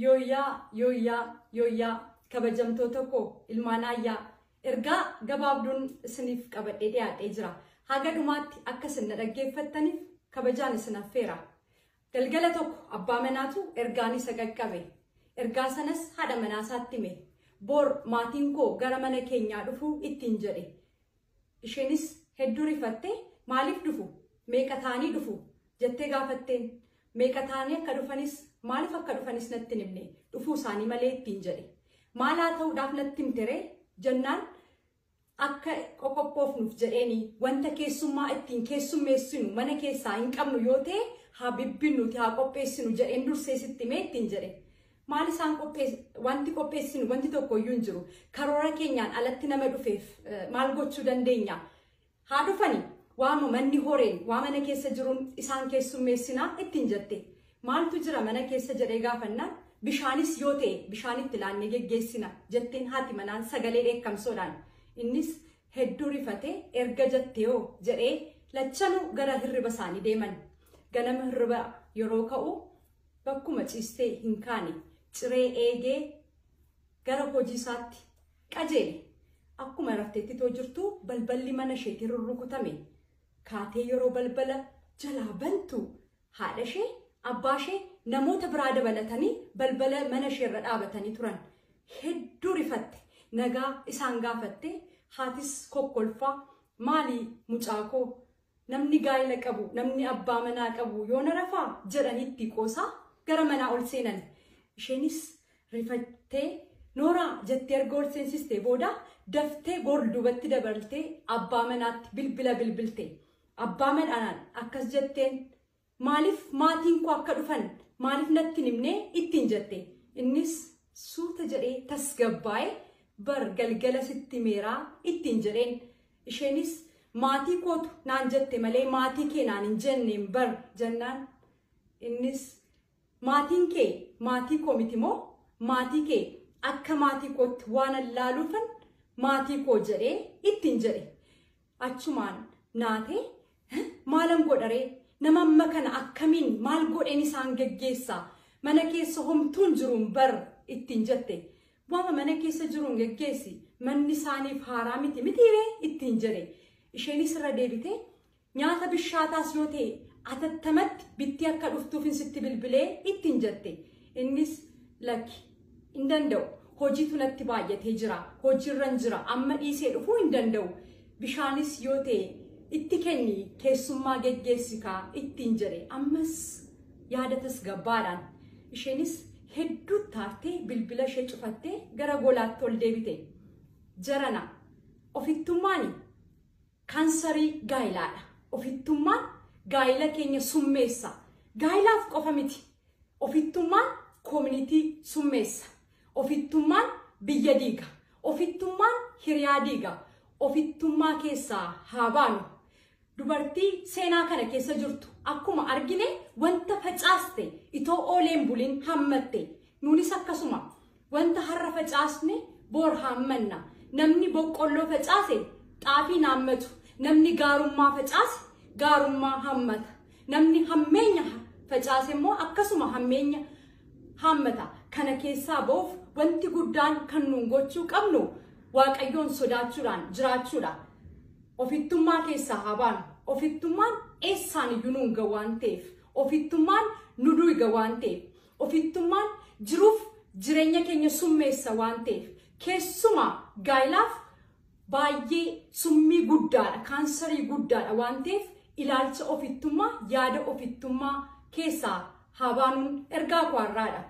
Yooyyaa yooyyaa yooyyaa kabajamtoota koo ilmaan ayyaa ergaa gabaabduun isiniif qabadhee dhiyaadhee jira. Haga dhumaatti akka isin na dhaggeeffattaniif kabajaan isin affeera. Galgala tokko abbaa manaatu ergaan isa qaqqabe. Ergaa sanas haadha manaa isaatti hime. Boor maatiin koo gara mana keenyaa dhufuu ittiin jedhe. Isheenis hedduu rifattee maaliif dhufu? Meeqa ta'anii dhufu? jettee gaafatteen. Meeqa ta'anii akka dhufanis maaliif akka dhufanis natti hin himne. Dhufuu isaanii malee ittiin jedhe. Maal haa ta'uudhaaf natti himte ree? jennaan akka qoqophoofnuuf jedheeni. Wanta keessummaa ittiin keessummeessinu mana keessaa hin qabnu yoo ta'e haa bibbinnuti haa qopheessinu jedheen dursee sitti himee ittiin jedhe. Maal isaan qophees- wanti qopheessinu wanti tokko iyyuu hin jiru. Karoora keenyaan alatti nama dhufeef eh, maal gochuu dandeenya? Haa dhufani waama manni horeen waa mana keessa jiruun isaan keessummeessinaa ittiin jette. Maaltu jira mana keessa jedhee gaafannaan bishaanis yoo ta'e bishaan itti laannee geggeessina jetteen haati manaan sagalee dheekkamsoodhaan. Innis hedduu rifatee erga jetteeyoo jedhee lachanuu gara hirriba isaanii deeman. Ganama hirriba yeroo ka'u Bakkuma ciistee hin kaane, ciree eegee gara hojii isaatti qajeele. Akkuma rafteettitoo jirtuu balballi mana isheetii rurrukutame. Kaatee yeroo balbala jalaa bantu haadha ishee, abbaa ishee, namoota biraa dabalatanii balbala mana ishee irra dhaabatanii turan. Hedduu rifatte. Nagaa isaan gaafattee haatis kokkolfaa maali mucaa koo Namni gaa'ila qabu, namni abbaa manaa qabu yoona rafaa? jedhanii itti qoosaa gara manaa ol seenan. Isheenis rifattee Nooraa jettee erga ol seensistee booda daftee goor duubatti dabaltee abbaa manaatti bilbila bilbilte. Abbaa manaadhaan akkas jetteen Maaliif maatiin koo akka dhufan maaliif natti hin himne ittiin jette. Innis suuta jedhee tasgabbaa'e bar galgala sitti himeeraa ittiin jedheen. Isheenis maatii kootu naan jette malee maatii kee naan hin jenneen bar jennaan. Innis maatiin kee maatii koo miti moo maatii kee akka maatii kootti waan allaaluufan maatii koo jedhee ittiin jedhe. Achumaan naatee Hi, maalan godha ree? Nama amma kana akkamiin maal godheen isaan geggeessa? Mana keessa homtuu hin jiruun bar ittiin jette. Waama mana keessa jiruun geggeessi. Manni isaaniif haaraa miti mitii ree? ittiin jedhe. Isheenis irra deebitee nyaata bishaataas yoo ta'e atattamatti bittee akka dhuftuufin sitti bilbilee ittiin jette. Innis lakki Hin danda'u. Hojiitu natti baay'atee jira. Hojiirran jira. Amma dhiisee dhufuu hin danda'u. Bishaanis yoo ta'e itti kenni keessummaa geggeessi kaa ittiin jedhe. Ammas yaada tasgabbaadhaan. Isheenis hedduu taartee bilbila ishee cufattee gara golaatti ol deebite. Jarana ofittummaani kaansarii gaayilaadha. Ofittummaan gaayila keenya summeessa. Gaayilaaf qofa miti. Ofittummaan koominitii summeessa. Ofittummaan biyya diiga. Ofittummaan hiriyaa diiga. Ofittummaa keessaa haa baanu. Dubartii seenaa kana keessa jirtu akkuma argine wanta facaaste itoo oolee hin bulin hammatte. Nuunis akkasuma Wanta har'a facaasne bor haammanna. Namni boqqolloo facaase xaafii hin haammatu. Namni gaarummaa facaase gaarummaa haammata. Namni hammeenya facaase immoo akkasuma hammeenya haammata. Kana keessaa ba'uuf wanti guddaan kan nuun gochuu qabnu Waaqayyoon sodaachuudhaan jiraachuudha. Ofittummaa keessaa haa baanu. Ofittummaan eessaan iyyuu nuun ga'u waan ta'eef. Ofittummaan nu duuga waan ta'eef. Ofittummaan jiruuf jireenya keenya summeessa waan ta'eef keessumaa gaa'ilaaf baay'ee summii guddaadha, kaansarii guddaadha waan ta'eef ilaalcha ofittummaa, yaada ofittummaa keessaa haa baanuun ergaa koo har'aadha.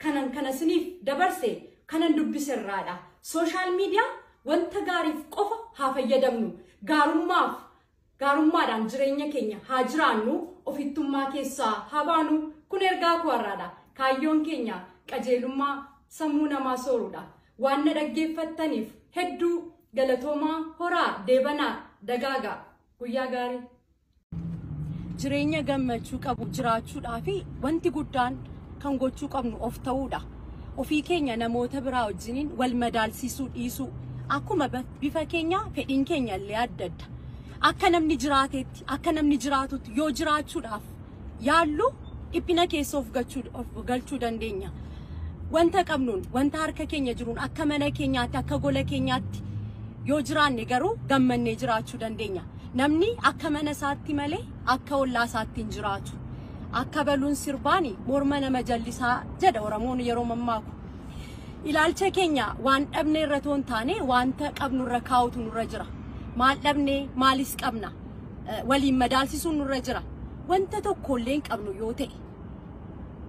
Kanan kana isiniif dabarse kanan dubbise irraadha. Sooshaal miidiyaa wanta gaariif qofa haa fayyadamnu. Gaarummaaf Gaarummaadhaan jireenya keenya haa jiraannu, ofittummaa keessaa haa baanu. Kun ergaa koo har'aadha. Kaayyoon keenya qajeelummaa sammuu namaa sooruudha. Waan na dhaggeeffattaniif hedduu galatoomaa, horaa, deebanaa, dagaagaa. Guyyaa gaarii. Jireenya gammachuu qabu jiraachuudhaaf wanti guddaan kan gochuu qabnu of ta'uudha. Ofii keenya namoota biraa wajjiniin wal madaalsiisuu dhiisuu. Akkuma ba- bifa keenya fedhiin keenya illee adda adda. Akka namni jiraateetti, akka namni jiraatutti yoo jiraachuudhaaf yaallu dhiphina keessa of gachuu- of galchuu dandeenya. Wanta qabnuun, wanta harka keenya jiruun akka mana keenyaatti, akka gola keenyaatti yoo jiraanne garuu gammannee jiraachuu dandeenya. Namni akka mana isaatti malee akka ollaa isaatti hin jiraatu. Akka baluun sirbaani morma nama jallisaa jedha Oromoon yeroo mammaaku. Ilaalcha keenya waan dhabne irra toon taane wanta qabnu irra kaa'utu nurra jira. Maal dhabne maalis qabna. Eh, Waliin madaalsisuun nurra jira. Wanta tokkollee hin qabnu yoo ta'e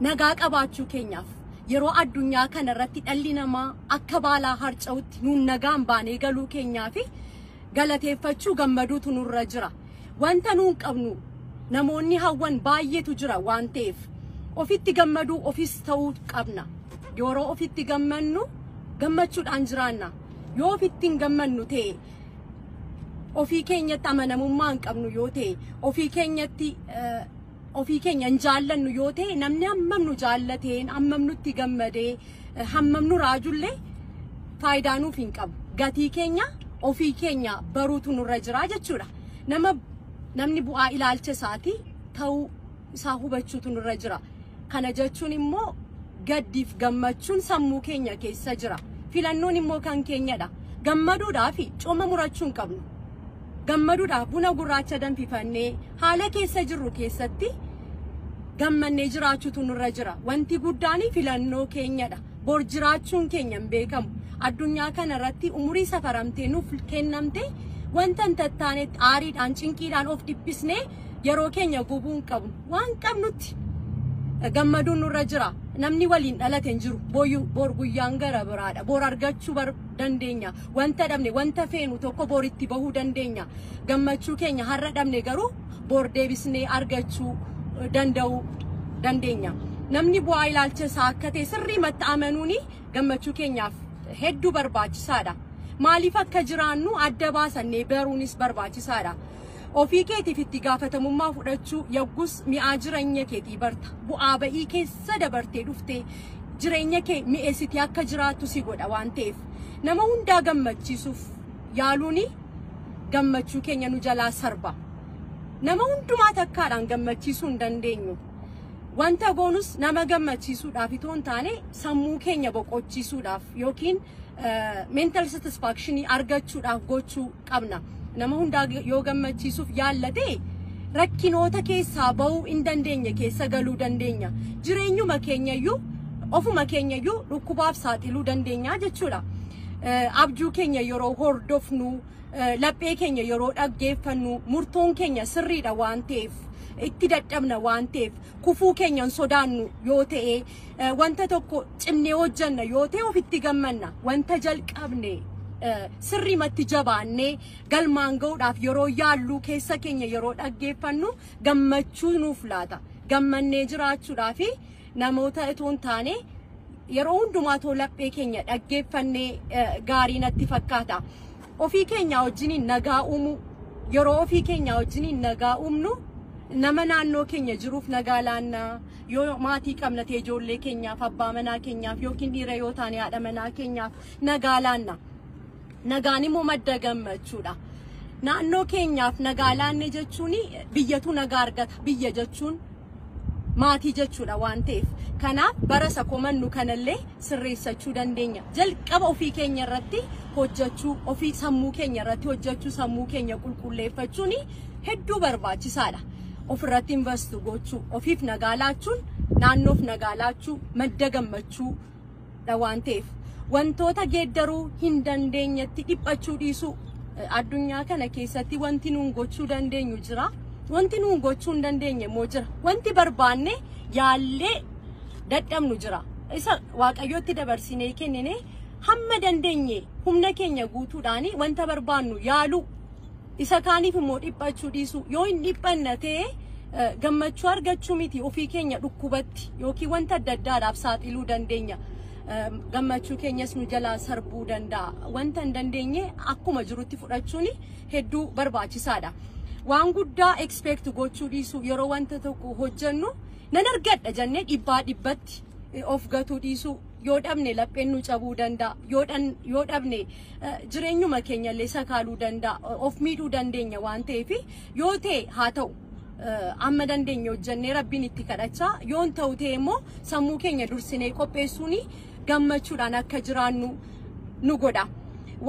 nagaa qabaachuu keenyaaf yeroo addunyaa kana irratti dhalli namaa akka baalaa harca'utti nuun nagaan baanee galuu keenyaa fi galateeffachuu gammaduutu nurra jira. Wanta nuun qabnu namoonni hawwan baay'eetu jira waan ta'eef ofitti gammaduu ofis ta'uu qabna. Yeroo ofitti gammannu gammachuudhaan jiraanna. Yoo ofitti hin gammannu ta'e ofii keenyatti amanamummaa hin qabnu yoo ta'e ofii keenyatti eh, Ofii keenya hin jaallannu yoo ta'e namni hammam nu jaallateen hammam nutti gammadee eh, hammam nu raajullee faayidaa nuuf hin qabu. Gatii keenya ofii keenya baruutu nurra jira jechuudha. Nama namni bu'aa ilaalcha isaatii ta'uu isaa hubachuutu nurra jira. Kana jechuun immoo gaddiif gammachuun sammuu keenya keessa jira. Filannoon immoo kan keenyadha. Gammaduudhaa fi cooma murachuu hin qabnu. gammaduudhaaf buna gurraacha danfifannee haala keessa jirru keessatti gammannee jiraachuutu nurra jira. Wanti guddaan filannoo keenyadha. Bor jiraachuun keenya hin beekamu. Addunyaa kana irratti umurii safaramtee nuuf kennamte wanta hin tattaanetti aariidhaan cinqiidhaan of dhiphisnee yeroo keenya gubuu hin qabnu. Waan qabnutti gammaduun nurra jira. Namni waliin dhalate hin jiru. Bor guyyaan gara biraadha. Bor argachuu dandeenya. Wanta dhabne, wanta feenu tokko bor itti bahuu dandeenya. Gammachuu keenya har'a dhabne garuu bor deebisnee argachuu danda'uu dandeenya. Namni bu'aa ilaalcha isaa akka ta'e sirriimatti amanuun gammachuu keenyaaf hedduu barbaachisaadha. Maaliif akka jiraannu adda baasannee baruunis barbaachisaadha. Ofii keetiif itti gaafatamummaa fudhachuu yoggus mi'aa jireenya keetii barta. Bu'aa ba'ii keessa dabartee dhuftee jireenya kee mi'eessitee akka jiraattu si godha waan ta'eef. Nama hundaa gammachiisuuf yaaluun gammachuu keenya nu jalaa sarba. Nama hundumaa takkaadhaan gammachiisuu hin dandeenyu. Wanta goonus nama gammachiisuudhaaf itoo hin taane sammuu keenya boqochiisuudhaaf yookiin mental satisfaction argachuudhaaf gochuu qabna. Nama hundaa yoo gammachiisuuf yaalla ta'e rakkinoota keessaa ba'uu hin dandeenye keessa galuu dandeenya. Jireenyuma keenyayyuu ofuma keenyayyuu dhukkubaaf saaxiluu dandeenya jechuudha. Eh, Abjuu keenya yeroo hordofnu, eh, laphee keenya yeroo dhaggeeffannu, murtoon keenya sirriidha waan ta'eef, itti dadhabna waan ta'eef, kufuu keenya hin sodaannu yoo ta'e, Eh, Wanta tokko cimnee hojjanna yoo ta'e ofitti gammanna. Wanta jalqabne eh, sirriimatti jabaannee galmaan ga'uudhaaf yeroo yaalluu keessa keenya yeroo dhaggeeffannu gammachuu nuuf laata. Gammannee jiraachuudhaa fi namoota itoo hin taane yeroo hundumaa too laphee keenya dhaggeeffannee eh, gaarii natti fakkaata. Ofii keenya wajjiniin nagaa uumuu yeroo ofii keenya wajjiniin nagaa uumnu nama naannoo keenya jiruuf nagaa laannaa Yoo maatii qabna ta'e ijoollee keenyaaf, abbaa manaa keenyaaf yookiin dhiira yoo taane haadha manaa keenyaaf nagaa laanna. Nagaan immoo madda gammachuudha. Naannoo keenyaaf nagaa laanne jechuun biyyatu nagaa argata. Biyya jechuun maatii jechuudha waan ta'eef. Kanaaf bara isa komannu kanallee sirreessachuu dandeenya. Jalqaba ofii keenya irratti hojjechuu, ofii sammuu keenya irratti hojjechuu, sammuu keenya qulqulleeffachuun hedduu barbaachisaadha. ofirratti invest gochuu, ofiif nagaa laachuun naannoof nagaa laachuu madda gammachuu dha waan ta'eef wantoota geeddaruu hin dandeenyetti dhiphachuu dhiisuu addunyaa kana keessatti wanti nuun gochuu dandeenyu jira. Wanti nuun gochuu hin dandeenye immoo jira. Wanti barbaanne yaallee dadhabnu jira. Isa waaqayyootti dabarsinee kennine hamma dandeenye humna keenya guutuudhaan wanta barbaannu yaaluu Isa kaaniif immoo dhiphachuu dhiisuu. Yoo hin dhiphanna ta'e gammachuu argachuu miti ofii keenya dhukkubatti yookiin wanta adda addaadhaaf saaxiluu dandeenya. Gammachuu keenyas nu jalaa sarbuu danda'a. Wanta hin dandeenye akkuma jirutti fudhachuun hedduu barbaachisaadha. Waan guddaa expect gochuu dhiisuu yeroo wanta tokko hojjennu nan argadha jennee dhibbaa dhibbatti of gatuu dhiisuu yoo dhabne lapheen nu cabuu danda'a yoo dhabne jireenyuma keenya illee sakaaluu danda'a of miidhuu dandeenya waan ta'eef yoo ta'e haa ta'u amma dandeenye hojjennee rabbiin itti kadhachaa yoon ta'u ta'e immoo sammuu keenya dursinee qopheessuun gammachuudhaan akka jiraannu nu godha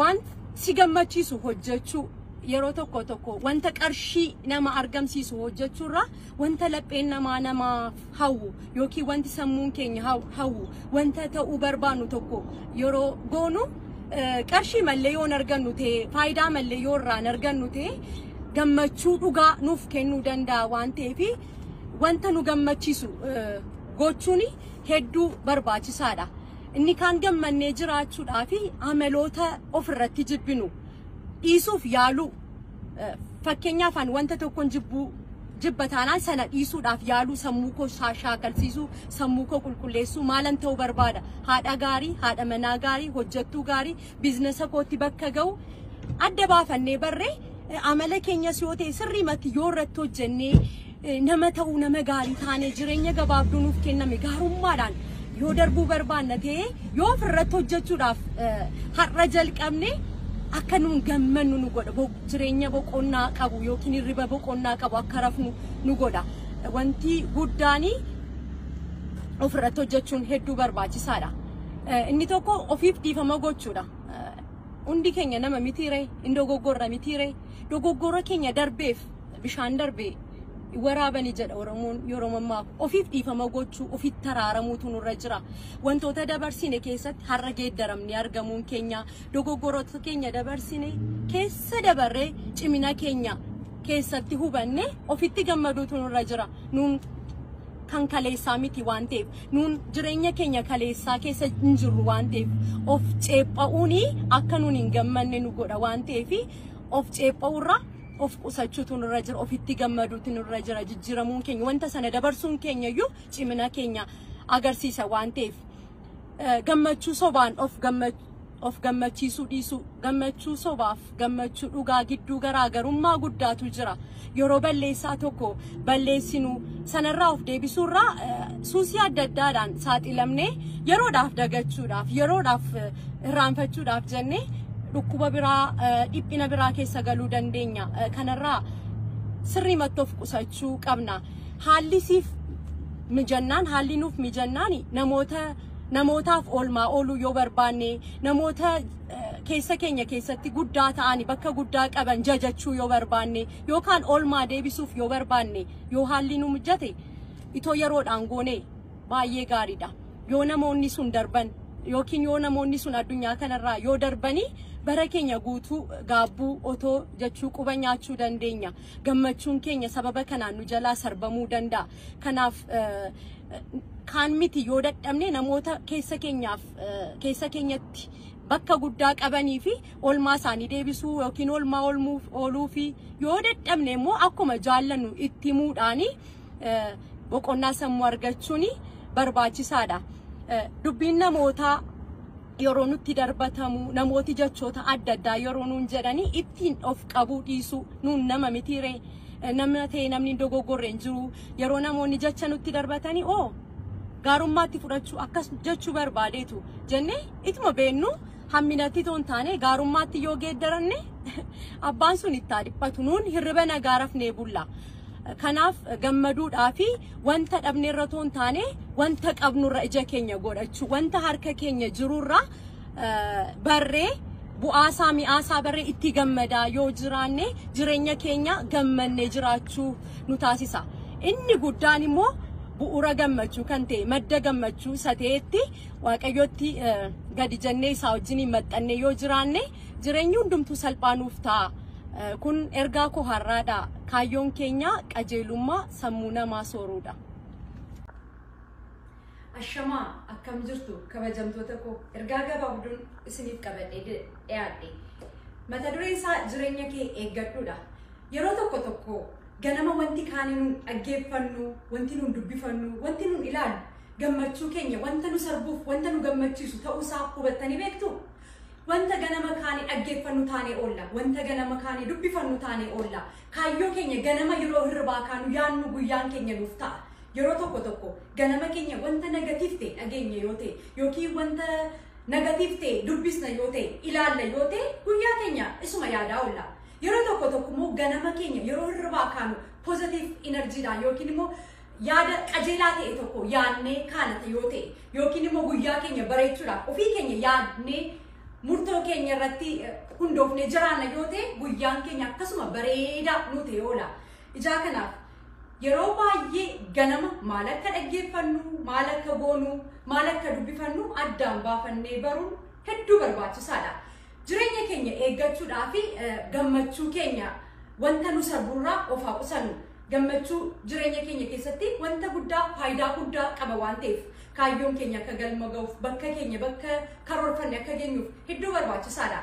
waan si gammachiisu hojjechuu yeroo tokko tokko wanta qarshii nama argamsiisu hojjechuurra wanta lapheen namaa namaaf hawwu yookiin wanti sammuun keenya haw- hawwu wanta ta'uu barbaannu tokko yeroo goonu eh, qarshii mallee yoon argannu ta'e faayidaa mallee yoo irraan argannu ta'e gammachuu dhugaa nuuf kennuu danda'a waan ta'eef wanta nu gammachiisu eh, gochuun hedduu barbaachisaadha. Inni kaan gammannee jiraachuudhaa fi amaloota ofirratti jibbinu dhiisuuf yaaluu Fakkeenyaaf an wanta tokkon jibbuu jibba taanaan sana dhiisuudhaaf yaaluu sammuu koo shaakalsiisuu sammuu koo qulqulleessuu maalan ta'uu barbaada haadha gaarii haadha manaa gaarii hojjettuu gaarii biiznasa kootti bakka ga'u adda baafannee barree amala keenyas yoo ta'e sirriimatti yoo irratti hojjennee Nama ta'uu nama gaarii taanee jireenya gabaabduu nuuf kenname gaarummaadhaan yoo darbuu barbaanna ta'ee yoo ofirratti hojjechuudhaaf har'a jalqabne akka nuun gammannu nu godha Bo- jireenya boqonnaa qabu yookiin hirriba boqonnaa qabu akka rafnu nu godha wanti guddaanii ofirratti hojjechuun hedduu barbaachisaadha. Eh, Inni tokko ofiif dhiifama gochuudha. Eh, Hundi keenya nama mitiiree, hin dogoggorra mitiiree, dogoggora keenya darbeef bishaan darbee waraabani jedha Oromoon yeroo ammaa ofiif dhiifama gochuu ofiif taraaramuutu nurra jira. Wantoota dabarsine keessatti har'a geeddaramni argamuun keenya dogoggoroota keenya dabarsine keessa dabarree cimina keenya keessatti hubanne ofitti gammaduutu nurra jira. Nuun kan kaleessaa miti waan ta'eef nuun jireenya keenya kaleessaa keessa hin jirru waan ta'eef of ceepha'uun akka nuun hin gammanne nu godha waan ta'eef of ceepha'uurraa of qusachuutu nurra jira ofitti gammaduutu nurra jira jijjiiramuun keenya wanta sana dabarsuun keenya iyyuu cimina keenya agarsiisa waan ta'eef eh, gammachuu sobaan of gamma- of gammachiisuu dhiisuu gammachuu sobaaf gammachuu dhugaa gidduu garaagarummaa guddaatu jira yeroo balleessaa tokko balleessinu sanarraa of deebisuurraa suusii adda addaadhaan saaxilamnee yeroodhaaf dagachuudhaaf yeroodhaaf irraanfachuudhaaf jennee dhukkuba biraa dhiphina biraa keessa galuu dandeenya kanarraa sirrii mattoof qusachuu qabna haalli siif mijannaan haalli nuuf mijannaan namoota namootaaf oolmaa ooluu yoo barbaanne namoota keessa keenya keessatti guddaa ta'ani bakka guddaa qaban jajachuu yoo barbaanne yookaan oolmaa deebisuuf yoo barbaanne yoo haalli nu mijate itoo yeroodhaan goone baay'ee gaariidha. Yoo namoonni sun darban yookiin yoo namoonni sun addunyaa kanarraa yoo darbanii bara keenya guutuu gaabbuu otoo jechuu quba nyaachuu dandeenya. Gammachuun keenya sababa kanaan nu jalaa sarbamuu danda'a. Kanaaf eh, kaan miti yoo dadhabne namoota keessa keenyaaf eh, keessa keenyatti bakka guddaa qabanii fi olmaa isaanii deebisuu yookiin olmaa olmuuf ooluu fi yoo dadhabne immoo akkuma jaallannu itti himuudhaani eh, boqonnaa sammuu argachuun barbaachisaadha. Eh, Dubbiin namootaa yeroo nutti darbatamu namooti jechoota adda addaa yeroo nuun jedhanii ittiin of qabuu dhiisuu nuun nama mitiiree eh, nama ta'e namni hin dogoggorre hin jiru yeroo namoonni jecha nutti darbatanii oo gaarummaatti fudhachuu akkas jechuu barbaadeetu jennee ituma beennuu hamminatti toon taane gaarummaatti yoo geeddaranne abbaan sun itti haa dhiphatu nuun hirriba nagaa rafnee bulla. Kanaaf gammaduudhaa fi wanta dhabneerra toon taane wanta qabnurra ija keenya godhachuu wanta harka keenya jirurra barree bu'aasaa mi'aasaa barree itti gammadaa yoo jiraanne jireenya keenya gammannee jiraachuu nu taasisa. Inni guddaan immoo bu'uura gammachuu kan ta'e madda gammachuu isa ta'etti Waaqayyootti gadi jennee isaa wajjiniin maxxannee yoo jiraanne jireenyi hundumtuu salphaa nuuf ta'a. Kun ergaa koo har'aadha. Kaayyoon keenya qajeelummaa sammuu namaa sooruudha. Ashamaa akkam jirtu kabajamtoota koo ergaa gabaabduun isiniif qabadhee dhiyaadhe. Mata dureen isaa jireenya kee eeggadhuudha. Yeroo tokko tokko ganama wanti kaanii nun dhaggeeffannu, wanti nun dubbifannu, wanti nun ilaallu Gammachuu keenya wanta nu sarbuuf wanta nu gammachiisu ta'uusaa hubattanii beektuu? Wanta ganama kaane dhaggeeffannu taanee oolla. Wanta ganama kaane dubbifannu taanee oolla. Kaayyoo keenya ganama yeroo hirribaa kaanu yaannu guyyaan keenya nuuf ta'a. Yeroo tokko tokko ganama keenya wanta negatiif ta'e dhageenya yoo ta'e yookiin wanta negatiif ta'e dubbisna yoo ta'e ilaalla yoo ta'e guyyaa keenya isuma yaadaa oolla. Yeroo tokko tokko immoo ganama keenya yeroo hirribaa kaanu pozitiif inarjiidhaan yookiin immoo Yaada qajeelaa ta'e tokko yaadnee kaalata yoo ta'e yookiin immoo guyyaa keenya bareechuudhaaf ofii keenya yaadnee murtoo keenya irratti hundoofnee jiraanna yoo ta'e guyyaan keenya akkasuma bareedaa nu ta'e oola. Ijaa kanaaf yeroo baay'ee ganama maal akka dhaggeeffannu, maal akka goonu, maal akka dubbifannu addaan baafannee baruun hedduu barbaachisaadha. Jireenya keenya eeggachuudhaa fi gammachuu keenya wanta nu sarbuurraa of haa qusannu. Gammachuu jireenya keenya keessatti wanta guddaa faayidaa guddaa qaba waan ta'eef kaayyoon keenya akka galma ga'uuf bakka keenya bakka karoorfanne akka geenyuuf hedduu barbaachisaadha.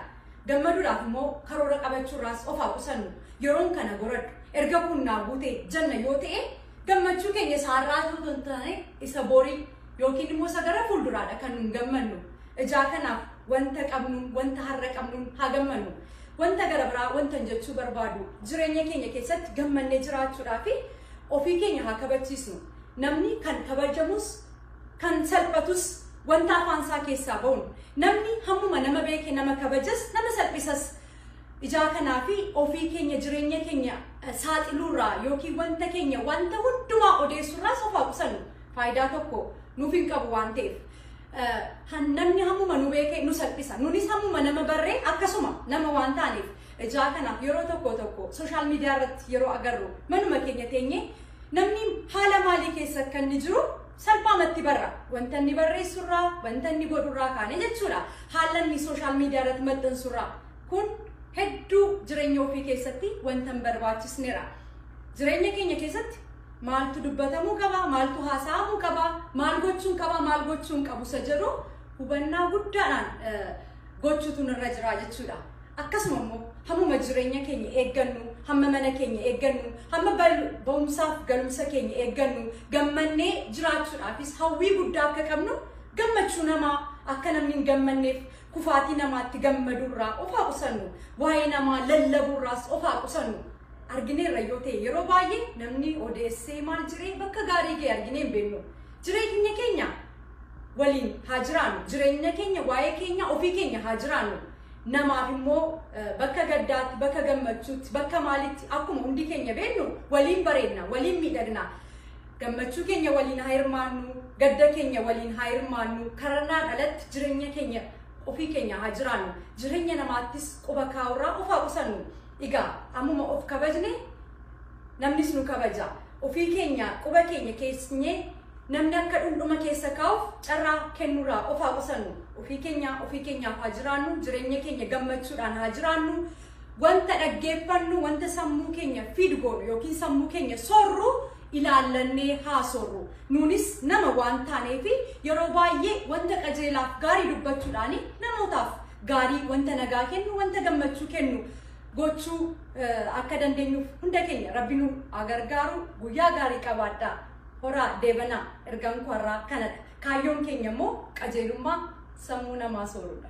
Gammaduudhaaf immoo karoora qabachuurraas of haa qusannu. Yeroon kana goradhu. Erga kun naa guute janna yoo ta'e gammachuu keenya isaarraa osoo hin taane isa borii Yookiin immoo isa gara fuulduraadha kan nun gammannu. Ijaa kanaaf wanta qabnuun, wanta har'a qabnuun haa gammannu. Wanta gara biraa wanta hin jechuu barbaadu jireenya keenya keessatti gammannee jiraachuudhaa fi ofii keenya haa kabachiisnu. Namni kan kabajamus kan salphatus wanta afaan isaa keessaa ba'uun namni hammuma nama beeke nama kabajas nama salphisas Ijaa kanaa fi ofii keenya jireenya keenya saaxiluurraa yookiin wanta keenya wanta hundumaa odeessurraa sofaa qusannu faayidaa tokko nuuf hin qabu waan ta'eef. Namni hammuma nu beekee nu salphisa. Nunis hammuma nama barree akkasuma nama waan taaneef ijaa kanaaf yeroo tokko tokko sooshaal miidiyaa irratti yeroo agarru manuma keenya teenyee namni haala maalii keessa akka inni jiru salphaamatti barra. Wanta inni barreessurraa, wanta inni godhurraa kaane jechuudha. Haala inni sooshaal miidiyaa irratti maxxansurraa. Kun hedduu jireenya ofii keessatti wanta hin barbaachisnedha. Jireenya keenya keessatti maaltu dubbatamuu qaba, maaltu haasa'amuu qaba, maal gochuun qaba, maal gochuun qabu isa jedhu hubannaa guddaadhaan eh, gochuutu nurra jira jechuudha. Akkasuma immoo hammuma jireenya keenya eeggannu, hamma mana keenya eeggannu, hamma bal- ba'umsaaf galumsa keenya eeggannu, gammannee jiraachuudhaafis hawwii guddaa akka qabnu gammachuu namaa akka namni hin gammanneef kufaatii namaatti gammaduu irraa of haa qusannu waa'ee namaa lallabuu irraas of haa qusannu argineerra yoo ta'e yeroo baay'ee namni odeessee maal jiree bakka gaarii ga'e arginee hin beeknu jireenya keenya waliin haa jiraannu jireenya keenya waa'ee keenya ofii keenya haa jiraannu namaaf immoo eh, bakka gaddaatti bakka gammachuutti bakka maalitti akkuma hundi keenya beeknu waliin bareedna waliin miidhagna Gammachuu keenya waliin haa hirmaannu, gadda keenya waliin haa hirmaannu, karannaan alatti jireenya keenya ofii keenya haa jiraannu, jireenya namaattis quba kaa'urraa of haa qusannu. Egaa ammuma of kabajne namnis nu kabaja. Ofii keenya quba keenya keessnyee namni akka dhundhuma keessa kaa'uuf carraa kennurraa of haa qusannu. Ofii keenya ofii keenyaaf haa jiraannu, jireenya keenya gammachuudhaan haa jiraannu. Wanta dhaggeeffannu, wanta sammuu keenya fiid goonu yookiin sammuu keenya soorru ilaallannee haa soorru. Nuunis nama waan taaneef yeroo baay'ee wanta qajeelaaf gaarii dubbachuudhaan namootaaf gaarii wanta nagaa kennu, wanta gammachuu kennu gochuu akka dandeenyuuf hunda keenya rabbi nu haa gargaaru guyyaa gaarii qabaadhaa. Horaa deebanaa ergaan koo har'aa kanadha. Kaayyoon keenya immoo qajeelummaa sammuu namaa soorudha.